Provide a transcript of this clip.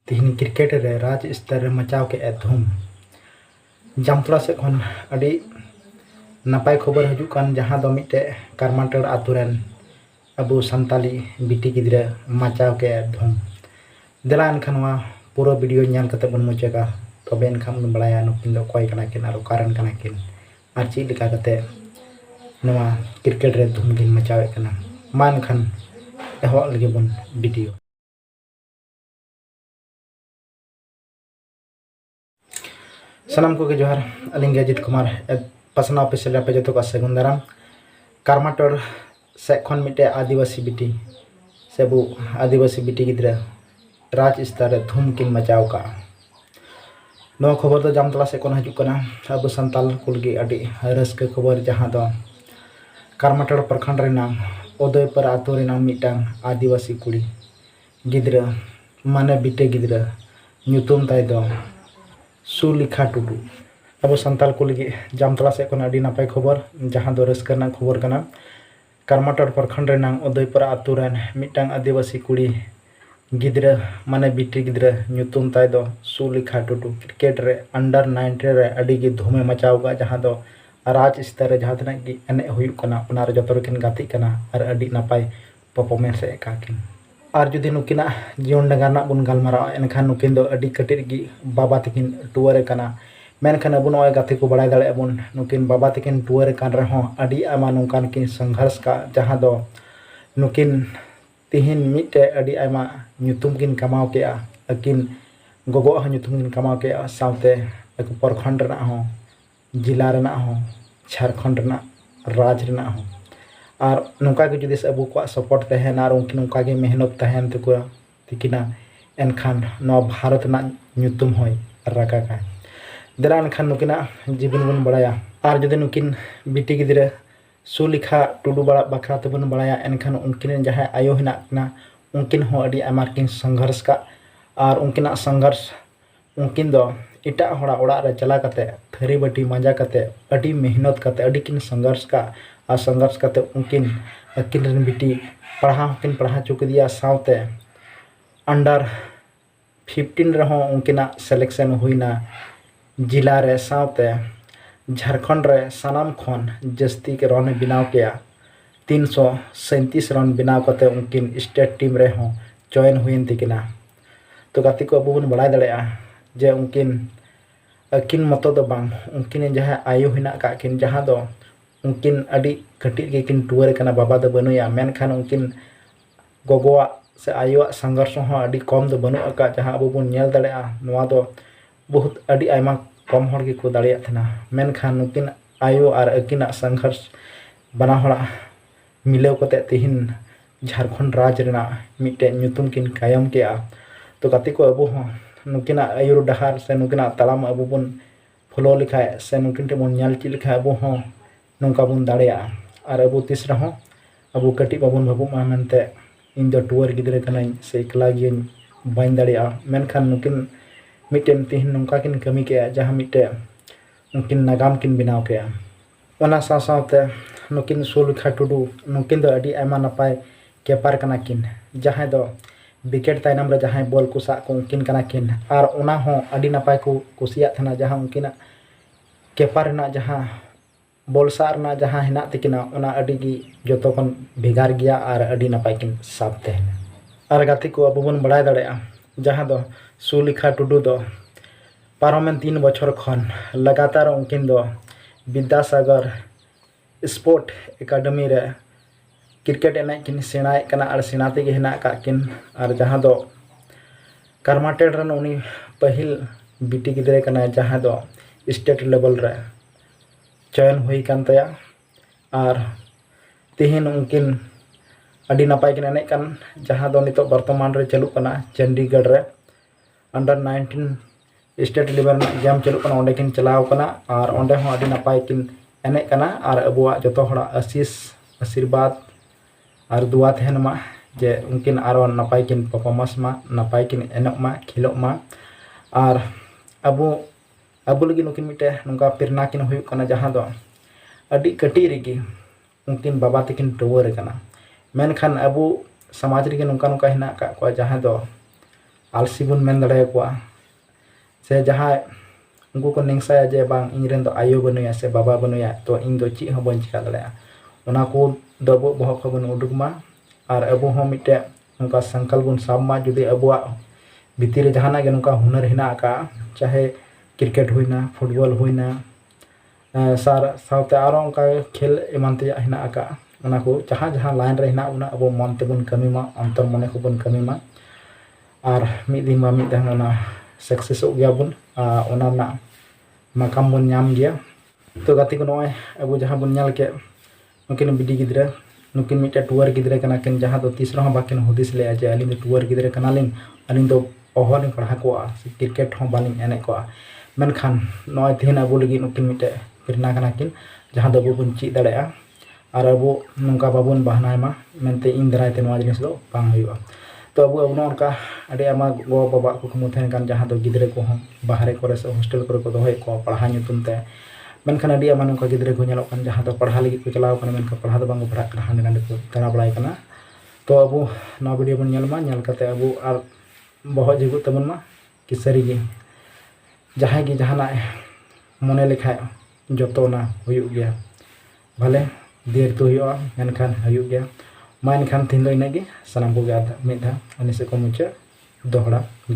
ᱛᱤᱦᱤᱧ ᱠᱨᱤᱠᱮᱴ ᱨᱮ ᱨᱟᱡᱽ ᱥᱛᱚᱨ ᱨᱮ ᱢᱟᱪᱟᱣ ᱠᱮᱫᱼᱟ ᱫᱷᱩᱢ ᱡᱟᱢᱛᱚᱲᱟ ᱥᱮᱫ ᱠᱷᱚᱱ ᱟᱹᱰᱤ ᱱᱟᱯᱟᱭ ᱠᱷᱚᱵᱚᱨ ᱦᱤᱡᱩᱜ ᱠᱟᱱ ᱡᱟᱦᱟᱸ ᱫᱚ ᱢᱤᱫᱴᱮᱡ ᱠᱟᱨᱢᱟᱴᱟᱹᱲ ᱟᱛᱳ ᱨᱮᱱ ᱟᱵᱚ ᱥᱟᱱᱛᱟᱞᱤ ᱵᱤᱴᱤ ᱜᱤᱫᱽᱨᱟᱹ ᱢᱟᱪᱟᱣ ᱠᱮᱫᱼᱟ ᱫᱷᱩᱢ ᱫᱮᱞᱟ ᱮᱱᱠᱷᱟᱱ ᱱᱚᱣᱟ ᱯᱩᱨᱟᱹ ᱵᱷᱤᱰᱤᱭᱳ ᱧᱮᱞ ᱠᱟᱛᱮ ᱵᱚᱱ ᱢᱩᱪᱟᱹᱫᱟ ᱛᱚᱵᱮ ᱮᱱᱠᱷᱟᱱ ᱵᱚᱱ ᱵᱟᱲᱟᱭᱟ ᱱᱩᱠᱤᱱ ᱫᱚ ᱚᱠᱚᱭ ᱠᱟᱱᱟ ᱠᱤᱱ ᱟᱨ ᱚᱠᱟᱨᱮᱱ ᱠᱟᱱᱟ ᱠᱤᱱ ᱟᱨ ᱪᱮᱫ ᱞᱮᱠᱟ ᱠᱟᱛᱮ ᱱᱚᱣᱟ ᱠᱨᱤᱠᱮᱴ ᱨᱮ ᱫᱷᱩᱢ ᱠᱤᱱ ᱢᱟᱪᱟᱣᱮᱫ ᱠᱟᱱᱟ ᱢᱟ ᱮᱱᱠᱷᱟᱱ ᱮᱦᱚᱵ ᱞᱮᱜᱮ ᱵᱚᱱ ᱵᱷᱤᱰᱤᱭᱳ ᱥᱟᱱᱟᱢ ᱠᱚᱜᱮ ᱡᱚᱦᱟᱨ ᱟᱹᱞᱤᱧ ᱜᱮ ᱡᱤᱛ ᱠᱩᱢᱟᱨ ᱯᱟᱥᱱᱟ ᱚᱯᱷᱤᱥᱤᱭᱟᱞ ᱟᱯᱮ ᱡᱚᱛᱚ ᱠᱚ ᱥᱟᱹᱜᱩᱱ ᱫᱟᱨᱟᱢ ᱠᱟᱨᱢᱟᱴᱚᱨ ᱥᱮᱫ ᱠᱷᱚᱱ ᱢᱤᱫᱴᱮᱡ ᱟᱹᱫᱤᱵᱟᱹᱥᱤ ᱵᱤᱴᱤ ᱥᱮ ᱟᱵᱚ ᱟᱹᱫᱤᱵᱟᱹᱥᱤ ᱵᱤᱴᱤ ᱜᱤᱫᱽᱨᱟᱹ ᱨᱟᱡᱽ ᱥᱛᱚᱨ ᱨᱮ ᱫᱷᱩᱢ ᱠᱤᱱ ᱢᱟᱪᱟᱣ ᱠᱟᱜᱼᱟ ᱱᱚᱣᱟ ᱠᱷᱚᱵᱚᱨ ᱫᱚ ᱡᱟᱢᱛᱚᱲᱟ ᱥᱮᱫ ᱠᱷᱚᱱ ᱦᱤᱡᱩᱜ ᱠᱟᱱᱟ ᱟᱵᱚ ᱥᱟᱱᱛᱟᱞ ᱠᱚ ᱞᱟᱹᱜᱤᱫ ᱟᱹᱰᱤ ᱨᱟᱹᱥᱠᱟᱹ ᱠᱷᱚᱵᱚᱨ ᱡᱟᱦᱟᱸ ᱫᱚ ᱠᱟᱨᱢᱟᱴᱚᱲ ᱯᱨᱚᱠᱷᱚᱸᱰ ᱨᱮᱱᱟᱜ ᱚᱫᱚᱭᱯᱩᱨ ᱟᱛᱳ ᱨᱮᱱᱟᱜ ᱢᱤᱫᱴᱟᱝ ᱟᱹᱫᱤᱵᱟᱹᱥᱤ ᱠᱩᱲᱤ ᱜᱤᱫᱽᱨᱟᱹ ᱢᱟᱱᱮ ᱵᱤᱴᱟᱹ ᱜᱤᱫᱽᱨᱟᱹ ᱧᱩᱛᱩᱢ ᱛᱟᱭ ᱫᱚ ᱥᱩᱞᱮᱠᱷᱟ ᱴᱩᱰᱩ ᱟᱵᱚ ᱥᱟᱱᱛᱟᱲ ᱠᱚ ᱞᱟᱹᱜᱤᱫ ᱡᱟᱢᱛᱟᱲᱟ ᱥᱮᱫ ᱠᱷᱚᱱ ᱟᱹᱰᱤ ᱱᱟᱯᱟᱭ ᱠᱷᱚᱵᱚᱨ ᱡᱟᱦᱟᱸ ᱫᱚ ᱨᱟᱹᱥᱠᱟᱹ ᱨᱮᱱᱟᱜ ᱠᱷᱚᱵᱚᱨ ᱠᱟᱱᱟ ᱠᱟᱨᱢᱟᱴᱚᱲ ᱯᱨᱚᱠᱷᱚᱸᱰ ᱨᱮᱱᱟᱜ ᱩᱫᱚᱭᱯᱩᱨᱟ ᱟᱹᱛᱩ ᱨᱮᱱ ᱢᱤᱫᱴᱟᱝ ᱟᱹᱫᱤᱵᱟᱹᱥᱤ ᱠᱩᱲᱤ ᱜᱤᱫᱽᱨᱟᱹ ᱢᱟᱱᱮ ᱵᱤᱴᱤ ᱜᱤᱫᱽᱨᱟᱹ ᱧᱩᱛᱩᱢ ᱛᱟᱭ ᱫᱚ ᱥᱩᱞᱮᱠᱷᱟ ᱴᱩᱰᱩ ᱠᱨᱤᱠᱮᱴ ᱨᱮ ᱟᱱᱰᱟᱨ ᱱᱟᱭᱤᱱᱴᱤᱱ ᱨᱮ ᱟᱹᱰᱤ ᱜᱮ ᱫᱷᱩᱢᱮ ᱢᱟᱪᱟᱣ ᱟᱠᱟᱫᱼᱟ ᱡᱟᱦᱟᱸ ᱫᱚ ᱨᱟᱡᱽ ᱥᱛᱚᱨ ᱨᱮ ᱡᱟᱦᱟᱸ ᱛᱤᱱᱟᱹᱜ ᱜᱮ ᱮᱱᱮᱡ ᱦᱩᱭᱩᱜ ᱠᱟᱱᱟ ᱚᱱᱟ ᱨᱮ ᱡᱚᱛᱚ ᱨᱮᱠᱤᱱ ᱜᱟᱛᱮᱜ ᱠᱟᱱᱟ ᱟᱨ ᱟᱹᱰᱤ ᱱᱟᱯᱟᱭ ᱯᱟᱨᱯᱷᱚᱨᱢᱮᱱᱥ ᱮᱫ ᱠᱟᱱᱟ ᱠᱤᱱ ᱟᱨ ᱡᱩᱫᱤ ᱱᱩᱠᱤᱱᱟᱜ ᱡᱤᱭᱚᱱ ᱰᱟᱸᱜᱟ ᱨᱮᱱᱟᱜ ᱵᱚᱱ ᱜᱟᱞᱢᱟᱨᱟᱣᱟ ᱮᱱᱠᱷᱟᱱ ᱱᱩᱠᱤᱱ ᱫᱚ ᱟᱹᱰᱤ ᱠᱟᱹᱴᱤᱡ ᱨᱮᱜᱮ ᱵᱟᱵᱟ ᱛᱟᱹᱠᱤᱱ ᱴᱩᱣᱟᱹᱨ ᱟᱠᱟᱱᱟ ᱢᱮᱱᱠᱷᱟᱱ ᱟᱵᱚ ᱱᱚᱜᱼᱚᱭ ᱜᱟᱛᱮ ᱠᱚ ᱵᱟᱲᱟᱭ ᱫᱟᱲᱮᱭᱟᱜ ᱟᱵᱚᱱ ᱱᱩᱠᱤᱱ ᱵᱟᱵᱟ ᱛᱟᱹᱠᱤᱱ ᱴᱩᱣᱟᱹᱨ ᱟᱠᱟᱱ ᱨᱮᱦᱚᱸ ᱟᱹᱰᱤ ᱟᱭᱢᱟ ᱱᱚᱝᱠᱟᱱ ᱠᱤᱱ ᱥᱚᱝᱜᱷᱟᱨᱥ ᱠᱟᱜᱼᱟ ᱡᱟᱦᱟᱸ ᱫᱚ ᱱᱩᱠᱤᱱ ᱛᱮᱦᱮᱧ ᱢᱤᱫᱴᱮᱡ ᱟᱹᱰᱤ ᱟᱭᱢᱟ ᱧᱩᱛᱩᱢ ᱠᱤᱱ ᱠᱟᱢᱟᱣ ᱠᱮᱜᱼᱟ ᱟᱹᱠᱤᱱ ᱜᱚᱜᱚᱣᱟᱜ ᱦᱚᱸ ᱧᱩᱛᱩᱢ ᱠᱤᱱ ᱠᱟᱢᱟᱣ ᱠᱮᱜᱼᱟ ᱥᱟᱶᱛᱮ ᱯᱨᱚᱠᱷᱚᱸᱰ ᱨᱮᱱᱟᱜ ᱦᱚᱸ ᱡᱮᱞᱟ ᱨᱮᱱᱟᱜ ᱦᱚᱸ ᱡᱷᱟᱲᱠᱷᱚᱸᱰ ᱨᱮᱱᱟᱜ ᱨᱟᱡᱽ ᱨᱮᱱᱟᱜ ᱦᱚᱸ ᱟᱨ ᱱᱚᱝᱠᱟ ᱜᱮ ᱡᱩᱫᱤ ᱟᱵᱚ ᱠᱚᱣᱟᱜ ᱥᱟᱯᱳᱨᱴ ᱛᱟᱦᱮᱱᱟ ᱟᱨ ᱩᱱᱠᱤᱱ ᱚᱱᱠᱟ ᱜᱮ ᱢᱮᱦᱱᱚᱛ ᱛᱟᱦᱮᱱ ᱛᱟᱠᱚᱣᱟ ᱛᱤᱠᱤᱱᱟ ᱮᱱᱠᱷᱟᱱ ᱱᱚᱣᱟ ᱵᱷᱟᱨᱚᱛ ᱨᱮᱱᱟᱜ ᱧᱩᱛᱩᱢ ᱦᱚᱸᱭ ᱨᱟᱠᱟᱵᱟ ᱫᱮᱞᱟ ᱮᱱᱠᱷᱟᱱ ᱱᱩᱠᱤᱱᱟᱜ ᱡᱤᱵᱚᱱ ᱵᱚᱱ ᱵᱟᱲᱟᱭᱟ ᱟᱨ ᱡᱩᱫᱤ ᱱᱩᱠᱤᱱ ᱵᱤᱴᱤ ᱜᱤᱫᱽᱨᱟᱹ ᱥᱩᱞᱮᱠᱷᱟ ᱴᱩᱰᱩ ᱵᱟᱠᱷᱨᱟ ᱛᱮᱵᱚᱱ ᱵᱟᱲᱟᱭᱟ ᱮᱱᱠᱷᱟᱱ ᱩᱱᱠᱤᱱ ᱨᱮᱱ ᱡᱟᱦᱟᱸᱭ ᱟᱭᱳ ᱦᱮᱱᱟᱜ ᱠᱤᱱᱟ ᱩᱱᱠᱤᱱ ᱦᱚᱸ ᱟᱹᱰᱤ ᱟᱭᱢᱟ ᱠᱤᱱ ᱥᱚᱝᱜᱷᱚᱨᱥ ᱠᱟᱜ ᱟᱨ ᱩᱱᱠᱤᱱᱟᱜ ᱥᱚᱝᱜᱷᱚᱨᱥ ᱩᱱᱠᱤᱱ ᱫᱚ ᱮᱴᱟᱜ ᱦᱚᱲᱟᱜ ᱚᱲᱟᱜ ᱨᱮ ᱪᱟᱞᱟᱣ ᱠᱟᱛᱮ ᱛᱷᱟᱹᱨᱤ ᱵᱟᱹᱴᱤ ᱢᱟᱸᱡᱟ ᱠᱟᱛᱮ ᱟᱹᱰᱤ ᱢᱮᱦᱱᱚᱛ ᱠᱟᱛᱮ ᱟᱹᱰᱤ ᱠᱤᱱ ᱥᱚᱝᱜᱷᱚᱨᱥ ᱠᱟᱜᱼᱟ ᱟᱨ ᱥᱚᱝᱜᱷᱚᱨᱥ ᱠᱟᱛᱮ ᱩᱱᱠᱤᱱ ᱟᱹᱠᱤᱱ ᱨᱮᱱ ᱵᱤᱴᱤ ᱯᱟᱲᱦᱟᱣ ᱦᱚᱸᱠᱤᱱ ᱯᱟᱲᱦᱟᱣ ᱦᱚᱪᱚ ᱠᱮᱫᱮᱭᱟ ᱥᱟᱶᱛᱮ ᱟᱱᱰᱟᱨ ᱯᱷᱤᱯᱴᱤᱱ ᱨᱮᱦᱚᱸ ᱩᱱᱠᱤᱱᱟᱜ ᱥᱤᱞᱮᱠᱥᱮᱱ ᱦᱩᱭᱮᱱᱟ ᱡᱮᱞᱟ ᱨᱮ ᱥᱟᱶᱛᱮ ᱡᱷᱟᱲᱠᱷᱚᱸᱰ ᱨᱮ ᱥᱟᱱᱟᱢ ᱠᱷᱚᱱ ᱡᱟᱹᱥᱛᱤ ᱨᱟᱱᱮ ᱵᱮᱱᱟᱣ ᱠᱮᱜᱼᱟ ᱛᱤᱱᱥᱚ ᱥᱟᱸᱭᱛᱤᱥ ᱨᱟᱱ ᱵᱮᱱᱟᱣ ᱠᱟᱛᱮ ᱩᱱᱠᱤᱱ ᱥᱴᱮᱴ ᱴᱤᱢ ᱨᱮᱦᱚᱸ ᱪᱚᱭᱚᱱ ᱦᱩᱭᱮᱱ ᱛᱟᱹᱠᱤᱱᱟ ᱛᱚ ᱜᱟᱛᱮ ᱠᱚ ᱟᱵᱚ ᱵᱚᱱ ᱵᱟᱲᱟᱭ ᱫᱟᱲᱮᱭᱟᱜᱼᱟ ᱡᱮ ᱩᱱᱠᱤᱱ ᱟᱹᱠᱤᱱ ᱢᱚᱛᱚ ᱫᱚ ᱵᱟᱝ ᱩᱱᱠᱤᱱ ᱨᱮᱱ ᱡᱟᱦᱟᱸᱭ ᱟᱭᱳ ᱦᱮᱱᱟᱜ ᱟᱠᱟᱫ ᱠᱤᱱ ᱡᱟᱦᱟᱸ ᱫᱚ ᱩᱱᱠᱤᱱ ᱟᱹᱰᱤ ᱠᱟᱹᱴᱤᱡ ᱨᱮᱜᱮ ᱠᱤᱱ ᱴᱩᱣᱟᱹᱨ ᱟᱠᱟᱱᱟ ᱵᱟᱵᱟ ᱫᱚ ᱵᱟᱹᱱᱩᱭᱟ ᱢᱮᱱᱠᱷᱟᱱ ᱩᱱᱠᱤᱱ ᱜᱚᱜᱚᱣᱟᱜ ᱥᱮ ᱟᱭᱳᱣᱟᱜ ᱥᱚᱝᱜᱷᱚᱨᱥ ᱦᱚᱸ ᱟᱹᱰᱤ ᱠᱚᱢ ᱫᱚ ᱵᱟᱹᱱᱩᱜ ᱟᱠᱟᱫᱼᱟ ᱡᱟᱦᱟᱸ ᱟᱵᱚ ᱵᱚᱱ ᱧᱮᱞ ᱫᱟᱲᱮᱭᱟᱜᱼᱟ ᱱᱚᱣᱟ ᱫᱚ ᱵᱚᱦᱩᱛ ᱟᱹᱰᱤ ᱟᱭᱢᱟ ᱠᱚᱢ ᱦᱚᱲ ᱜᱮᱠᱚ ᱫᱟᱲᱮᱭᱟᱜ ᱛᱟᱦᱮᱱᱟ ᱢᱮᱱᱠᱷᱟᱱ ᱱᱩᱠᱤᱱ ᱟᱭᱳ ᱟᱨ ᱟᱹᱠᱤᱱᱟᱜ ᱥᱚᱝᱜᱷᱚᱨᱥ ᱵᱟᱱᱟ ᱦᱚᱲᱟᱜ ᱢᱤᱞᱟᱹᱣ ᱠᱟᱛᱮᱫ ᱛᱮᱦᱮᱧ ᱡᱷᱟᱨᱠᱷᱚᱸᱰ ᱨᱟᱡᱽ ᱨᱮᱱᱟᱜ ᱢᱤᱫᱴᱮᱡ ᱧᱩᱛᱩᱢ ᱠᱤᱱ ᱠᱟᱭᱚᱢ ᱠᱮᱜᱼᱟ ᱛᱚ ᱜᱟᱛᱮ ᱠᱚ ᱟᱵᱚ ᱦᱚᱸ ᱱᱩᱠᱤᱱᱟᱜ ᱟᱹᱭᱩᱨ ᱰᱟᱦᱟᱨ ᱥᱮ ᱱᱩᱠᱤᱱᱟᱜ ᱛᱟᱲᱟᱢ ᱟᱵᱚ ᱵᱚᱱ ᱯᱷᱳᱞᱳ ᱞᱮᱠᱷᱟᱡ ᱥᱮ ᱱᱩᱠᱤᱱ ᱴᱷᱮᱡ ᱵᱚᱱ ᱧᱮᱞ ᱪᱮᱫ ᱞᱮᱠᱷᱟᱡ ᱟᱵᱚ ᱦᱚᱸ ᱱᱚᱝᱠᱟ ᱵᱚᱱ ᱫᱟᱲᱮᱭᱟᱜᱼᱟ ᱟᱨ ᱟᱵᱚ ᱛᱤᱥ ᱨᱮᱦᱚᱸ ᱟᱵᱚ ᱠᱟᱹᱴᱤᱡ ᱵᱟᱵᱚᱱ ᱵᱷᱟᱵᱚᱜ ᱢᱟ ᱢᱮᱱᱛᱮ ᱤᱧ ᱫᱚ ᱴᱩᱣᱟᱹᱨ ᱜᱤᱫᱽᱨᱟᱹ ᱠᱟᱹᱱᱟᱹᱧ ᱥᱮ ᱮᱠᱞᱟ ᱜᱤᱭᱟᱹᱧ ᱵᱟᱹᱧ ᱫᱟᱲᱮᱭᱟᱜᱼᱟ ᱢᱮᱱᱠᱷᱟᱱ ᱱᱩᱠᱤᱱ ᱢᱤᱫᱴᱮᱱ ᱛᱮᱦᱮᱧ ᱱᱚᱝᱠᱟ ᱠᱤᱱ ᱠᱟᱹᱢᱤ ᱠᱮᱜᱼᱟ ᱡᱟᱦᱟᱸ ᱢᱤᱫᱴᱮᱡ ᱩᱱᱠᱤᱱ ᱱᱟᱜᱟᱢ ᱠᱤᱱ ᱵᱮᱱᱟᱣ ᱠᱮᱜᱼᱟ ᱚᱱᱟ ᱥᱟᱶ ᱥᱟᱶᱛᱮ ᱱᱩᱠᱤᱱ ᱥᱩᱞᱮᱠᱷᱟ ᱴᱩᱰᱩ ᱱᱩᱠᱤᱱ ᱫᱚ ᱟᱹᱰᱤ ᱟᱭᱢᱟ ᱱᱟᱯᱟᱭ ᱠᱮᱯᱟᱨ ᱠᱟᱱᱟ ᱠᱤᱱ ᱡᱟᱦᱟᱸᱭ ᱫᱚ ᱵᱤᱠᱮᱴ ᱛᱟᱭᱱᱚᱢ ᱨᱮ ᱡᱟᱦᱟᱸᱭ ᱵᱚᱞ ᱠᱚ ᱥᱟᱵ ᱠᱚ ᱩᱱᱠᱤᱱ ᱠᱟᱱᱟ ᱠᱤᱱ ᱟᱨ ᱚᱱᱟ ᱦᱚᱸ ᱟᱹᱰᱤ ᱱᱟᱯᱟᱭ ᱠᱚ ᱠᱩᱥᱤᱭᱟᱜ ᱛᱟᱦᱮᱱᱟ ᱡᱟᱦᱟᱸ ᱩᱱᱠᱤᱱᱟᱜ ᱠᱮᱯᱟᱨ ᱨᱮᱱᱟᱜ ᱡᱟᱦᱟᱸ ᱵᱚᱞ ᱥᱟᱵ ᱨᱮᱱᱟᱜ ᱡᱟᱦᱟᱸ ᱦᱮᱱᱟᱜ ᱛᱟᱹᱠᱤᱱᱟ ᱚᱱᱟ ᱟᱹᱰᱤ ᱜᱮ ᱡᱚᱛᱚ ᱠᱷᱚᱱ ᱵᱷᱮᱜᱟᱨ ᱜᱮᱭᱟ ᱟᱨ ᱟᱹᱰᱤ ᱱᱟᱯᱟᱭ ᱠᱤᱱ ᱥᱟᱵ ᱛᱟᱦᱮᱱᱟ ᱟᱨ ᱜᱟᱛᱮ ᱠᱚ ᱟᱵᱚ ᱵᱚᱱ ᱵᱟᱲᱟᱭ ᱫᱟᱲᱮᱭᱟᱜᱼᱟ ᱡᱟᱦᱟᱸ ᱫᱚ ᱥᱩᱞᱮᱠᱷᱟ ᱴᱩᱰᱩ ᱫᱚ ᱯᱟᱨᱚᱢᱮᱱ ᱛᱤᱱ ᱵᱚᱪᱷᱚᱨ ᱠᱷᱚᱱ ᱞᱟᱜᱟᱛᱟᱨ ᱩᱱᱠᱤᱱ ᱫᱚ ᱵᱤᱫᱽᱫᱟᱥᱟᱜᱚᱨ ᱥᱯᱳᱨᱴ ᱮᱠᱟᱰᱮᱢᱤ ᱨᱮ ᱠᱨᱤᱠᱮᱴ ᱮᱱᱮᱡ ᱠᱤᱱ ᱥᱮᱬᱟᱭᱮᱫ ᱠᱟᱱᱟ ᱟᱨ ᱥᱮᱬᱟ ᱛᱮᱜᱮ ᱦᱮᱱᱟᱜ ᱟᱠᱟᱫ ᱠᱤᱱ ᱟᱨ ᱡᱟᱦᱟᱸ ᱫᱚ ᱠᱟᱨᱢᱟᱴᱮᱲ ᱨᱮᱱ ᱩᱱᱤ ᱯᱟᱹᱦᱤᱞ ᱵᱤᱴᱤ ᱜᱤᱫᱽᱨᱟᱹ ᱠᱟᱱᱟᱭ ᱡᱟᱦᱟᱸᱭ ᱫᱚ ᱥᱴᱮᱴ ᱞᱮᱵᱮᱞ ᱨᱮ ᱪᱚᱭᱚᱱ ᱦᱩᱭ ᱟᱠᱟᱱ ᱛᱟᱭᱟ ᱟᱨ ᱛᱮᱦᱮᱧ ᱩᱱᱠᱤᱱ ᱟᱹᱰᱤ ᱱᱟᱯᱟᱭ ᱠᱤᱱ ᱮᱱᱮᱡ ᱠᱟᱱ ᱡᱟᱦᱟᱸ ᱫᱚ ᱱᱤᱛᱚᱜ ᱵᱚᱨᱛᱚᱢᱟᱱ ᱨᱮ ᱪᱟᱹᱞᱩᱜ ᱠᱟᱱᱟ ᱪᱚᱱᱰᱤᱜᱚᱲ ᱨᱮ ᱟᱱᱰᱟᱨ ᱱᱟᱭᱤᱱᱴᱤᱱ ᱥᱴᱮᱴ ᱞᱮᱵᱮᱞ ᱨᱮᱱᱟᱜ ᱜᱮᱢ ᱪᱟᱹᱞᱩᱜ ᱠᱟᱱᱟ ᱚᱸᱰᱮ ᱠᱤᱱ ᱪᱟᱞᱟᱣ ᱠᱟᱱᱟ ᱟᱨ ᱚᱸᱰᱮ ᱦᱚᱸ ᱟᱹᱰᱤ ᱱᱟᱯᱟᱭ ᱠᱤᱱ ᱮᱱᱮᱡ ᱠᱟᱱᱟ ᱟᱨ ᱟᱵᱚᱣᱟᱜ ᱡᱚᱛᱚ ᱦᱚᱲᱟᱜ ᱟᱹᱥᱤᱥ ᱟᱹᱥᱤᱨᱵᱟᱫᱽ ᱟᱨ ᱫᱩᱣᱟ ᱛᱟᱦᱮᱱ ᱢᱟ ᱡᱮ ᱩᱱᱠᱤᱱ ᱟᱨᱚ ᱱᱟᱯᱟᱭ ᱠᱤᱱ ᱯᱟᱨᱯᱷᱚᱨᱢᱮᱱᱥ ᱢᱟ ᱱᱟᱯᱟᱭ ᱠᱤᱱ ᱮᱱᱚᱜ ᱢᱟ ᱠᱷᱮᱞᱳᱜ ᱢᱟ ᱟᱨ ᱟᱵᱚ ᱟᱵᱚ ᱞᱟᱹᱜᱤᱫ ᱱᱩᱠᱤᱱ ᱢᱤᱫᱴᱮᱱ ᱱᱚᱝᱠᱟ ᱯᱨᱮᱨᱚᱱᱟ ᱠᱤᱱ ᱦᱩᱭᱩᱜ ᱠᱟᱱᱟ ᱡᱟᱦᱟᱸ ᱫᱚ ᱟᱹᱰᱤ ᱠᱟᱹᱴᱤᱡ ᱨᱮᱜᱮ ᱩᱱᱠᱤᱱ ᱵᱟᱵᱟ ᱛᱤᱠᱤᱱ ᱴᱩᱣᱟᱹᱨ ᱟᱠᱟᱱᱟ ᱢᱮᱱᱠᱷᱟᱱ ᱟᱵᱚ ᱥᱚᱢᱟᱡᱽ ᱨᱮᱜᱮ ᱱᱚᱝᱠᱟ ᱱᱚᱝᱠᱟ ᱦᱮᱱᱟᱜ ᱟᱠᱟᱫ ᱠᱚᱣᱟ ᱡᱟᱦᱟᱸᱭ ᱫᱚ ᱟᱞᱥᱤ ᱵᱚᱱ ᱢᱮᱱ ᱫᱟᱲᱮ ᱟᱠᱚᱣᱟ ᱥᱮ ᱡᱟᱦᱟᱸᱭ ᱩᱱᱠᱩ ᱠᱚ ᱱᱤᱝᱥᱟᱭᱟ ᱡᱮ ᱵᱟᱝ ᱤᱧ ᱨᱮᱱ ᱫᱚ ᱟᱭᱳ ᱵᱟᱹᱱᱩᱭᱟ ᱥᱮ ᱵᱟᱵᱟ ᱵᱟᱹᱱᱩᱭᱟ ᱛᱚ ᱤᱧ ᱫᱚ ᱪᱮᱫ ᱦᱚᱸ ᱵᱟᱹᱧ ᱪᱮᱠᱟ ᱫᱟᱲᱮᱭᱟᱜᱼᱟ ᱚᱱᱟ ᱠᱚ ᱫᱚ ᱟᱵᱚᱣᱟᱜ ᱵᱚᱦᱚᱜ ᱠᱷᱚᱱ ᱵᱚᱱ ᱩᱰᱩᱠ ᱢᱟ ᱟᱨ ᱟᱵᱚ ᱦᱚᱸ ᱢᱤᱫᱴᱮᱱ ᱱᱚᱝᱠᱟ ᱥᱚᱝᱠᱚᱞᱯ ᱵᱚᱱ ᱥᱟᱵ ᱢᱟ ᱡᱩᱫᱤ ᱟᱵᱚᱣᱟᱜ ᱵᱷᱤᱛᱤᱨ ᱨᱮ ᱡᱟᱦᱟᱱᱟᱜ ᱜᱮ ᱱᱚᱝᱠᱟ ᱦᱩᱱᱟᱹᱨ ᱦᱮᱱᱟᱜ ᱟᱠᱟᱫᱼᱟ ᱪᱟᱦᱮ ᱠᱨᱤᱠᱮᱴ ᱦᱩᱭᱱᱟ ᱯᱷᱩᱴᱵᱚᱞ ᱦᱩᱭᱱᱟ ᱥᱟᱨ ᱥᱟᱶᱛᱮ ᱟᱨᱚ ᱚᱱᱠᱟ ᱜᱮ ᱠᱷᱮᱞ ᱮᱢᱟᱱ ᱛᱮᱭᱟᱜ ᱦᱮᱱᱟᱜ ᱟᱠᱟᱫᱼᱟ ᱚᱱᱟ ᱠᱚ ᱡᱟᱦᱟᱸ ᱡᱟᱦᱟᱸ ᱞᱟᱭᱤᱱ ᱨᱮ ᱦᱮᱱᱟᱜ ᱵᱚᱱᱟ ᱟᱵᱚ ᱢᱚᱱ ᱛᱮᱵᱚᱱ ᱠᱟᱹᱢᱤ ᱢᱟ ᱚᱱᱛᱚᱨ ᱢᱚᱱᱮ ᱠᱚᱵᱚᱱ ᱠᱟᱹᱢᱤ ᱢᱟ ᱟᱨ ᱢᱤᱫ ᱫᱤᱱ ᱵᱟᱝ ᱢᱤᱫ ᱫᱤᱱ ᱚᱱᱟ ᱥᱟᱠᱥᱮᱥᱚᱜ ᱜᱮᱭᱟ ᱵᱚᱱ ᱟᱨ ᱚᱱᱟ ᱨᱮᱱᱟᱜ ᱱᱟᱠᱟᱢ ᱵᱚᱱ ᱧᱟᱢ ᱜᱮᱭᱟ ᱛᱳ ᱜᱟᱛᱮ ᱠᱚ ᱱᱚᱜᱼᱚᱭ ᱟᱵᱚ ᱡᱟᱦᱟᱸ ᱵᱚᱱ ᱧᱮᱞ ᱠᱮᱫ ᱱᱩᱠᱤᱱ ᱵᱤᱴᱤ ᱜᱤᱫᱽᱨᱟᱹ ᱱᱩᱠᱤᱱ ᱢᱤᱫᱴᱮᱱ ᱴᱩᱣᱟᱹᱨ ᱜᱤᱫᱽᱨᱟᱹ ᱠᱟᱱᱟ ᱠᱤᱱ ᱡᱟᱦᱟᱸ ᱫᱚ ᱛᱤᱥ ᱨᱮᱦᱚᱸ ᱵᱟᱹᱠᱤᱱ ᱦᱩᱫᱤᱥ ᱞᱮᱫᱼᱟ ᱡᱮ ᱟᱹᱞᱤᱧ ᱫᱚ ᱴᱩᱣᱟᱹᱨ ᱜᱤᱫᱽᱨᱟᱹ ᱠᱟᱱᱟᱞᱤᱧ ᱟᱹᱞᱤᱧ ᱫᱚ ᱚᱦᱚ ᱞᱤᱧ ᱯᱟᱲᱦᱟᱣ ᱠᱚᱜᱼᱟ ᱥᱮ ᱠᱨᱤᱠᱮᱴ ᱦᱚᱸ ᱵᱟᱹᱞᱤᱧ ᱮᱱᱮᱡ ᱠᱚᱜᱼᱟ ᱢᱮᱱᱠᱷᱟᱱ ᱱᱚᱜᱼᱚᱭ ᱛᱮᱦᱮᱧ ᱟᱵᱚ ᱞᱟᱹᱜᱤᱫ ᱱᱩᱠᱤᱱ ᱢᱤᱫᱴᱮᱱ ᱯᱨᱮᱨᱱᱟ ᱠᱟᱱᱟ ᱠᱤᱱ ᱡᱟᱦᱟᱸ ᱫᱚ ᱟᱵᱚ ᱵᱚᱱ ᱪᱮᱫ ᱫᱟᱲᱮᱭᱟᱜᱼᱟ ᱟᱨ ᱟᱵᱚ ᱱᱚᱝᱠᱟ ᱵᱟᱵᱚᱱ ᱵᱟᱦᱱᱟᱭ ᱢᱟ ᱢᱮᱱᱛᱮ ᱤᱧ ᱫᱟᱨᱟᱭ ᱛᱮ ᱱᱚᱣᱟ ᱡᱤᱱᱤᱥ ᱫᱚ ᱵᱟᱝ ᱦᱩᱭᱩᱜᱼᱟ ᱛᱳ ᱟᱵᱚ ᱟᱵᱚ ᱱᱚᱜᱼᱚ ᱱᱚᱝᱠᱟ ᱟᱹᱰᱤ ᱟᱭᱢᱟ ᱜᱚᱼᱵᱟᱵᱟᱣᱟᱜ ᱠᱩᱠᱢᱩ ᱛᱟᱦᱮᱸ ᱠᱟᱱ ᱡᱟᱦᱟᱸ ᱫᱚ ᱜᱤᱫᱽᱨᱟᱹ ᱠᱚᱦᱚᱸ ᱵᱟᱦᱨᱮ ᱠᱚᱨᱮ ᱥᱮ ᱦᱳᱥᱴᱮᱞ ᱠᱚᱨᱮ ᱠᱚ ᱫᱚᱦᱚᱭᱮᱫ ᱠᱚᱣᱟ ᱯᱟᱲᱦᱟᱣ ᱧᱩᱛᱩᱢ ᱛᱮ ᱢᱮᱱᱠᱷᱟᱱ ᱟᱹᱰᱤ ᱟᱭᱢᱟ ᱱᱚᱝᱠᱟ ᱜᱤᱫᱽᱨᱟᱹ ᱠᱚ ᱧᱮᱞᱚᱜ ᱠᱟᱱᱟ ᱡᱟᱦᱟᱸ ᱫᱚ ᱯᱟᱲᱦᱟᱣ ᱞᱟᱹᱜᱤᱫ ᱠᱚ ᱪᱟᱞᱟᱣ ᱠᱟᱱᱟ ᱢᱮᱱᱠᱷᱟᱱ ᱯᱟᱲᱦᱟᱣ ᱫᱚ ᱵᱟᱝᱠᱚ ᱯᱟᱲᱦᱟᱜ ᱠᱟᱱᱟ ᱦᱟᱸᱰᱮ ᱱᱟᱸᱰᱮ ᱠᱚ ᱫᱟᱬᱟ ᱵᱟᱲᱟᱭ ᱠᱟᱱᱟ ᱛᱚ ᱟᱵᱚ ᱱᱚᱣᱟ ᱵᱷᱤᱰᱭᱳ ᱵᱚᱱ ᱧᱮᱞ ᱢᱟ ᱧᱮᱞ ᱠᱟᱛᱮᱫ ᱟᱵᱚ ᱟᱨ ᱵᱚᱦᱚᱜ ᱡᱷᱤᱡᱚᱜ ᱛᱟᱵᱚᱱ ᱢᱟ ᱠᱤ ᱥᱟᱹᱨᱤᱜᱮ ᱡᱟᱦᱟᱸᱭ ᱜᱮ ᱡᱟᱦᱟᱱᱟᱜ ᱮ ᱢᱚᱱᱮ ᱞᱮᱠᱷᱟᱡ ᱡᱚᱛᱚ ᱚᱱᱟ ᱦᱩᱭᱩᱜ ᱜᱮᱭᱟ ᱵᱷᱟᱞᱮ ᱫᱮᱨ ᱫᱚ ᱦᱩᱭᱩᱜᱼᱟ ᱢᱮᱱᱠᱷᱟᱱ ᱦᱩᱭᱩᱜ ᱜᱮᱭᱟ ᱢᱟ ᱮᱱᱠᱷᱟᱱ ᱛᱮᱦᱮᱧ ᱫᱚ ᱤᱱᱟᱹᱜ ᱜᱮ ᱥᱟᱱᱟᱢ ᱠᱚᱜᱮ ᱟᱨ ᱢᱤᱫ ᱫᱷᱟᱣ ᱟᱹᱞᱤᱧ ᱥᱮᱫ ᱠᱷᱚᱱ ᱢᱩᱪᱟᱹᱫ ᱫᱚᱦᱲᱟ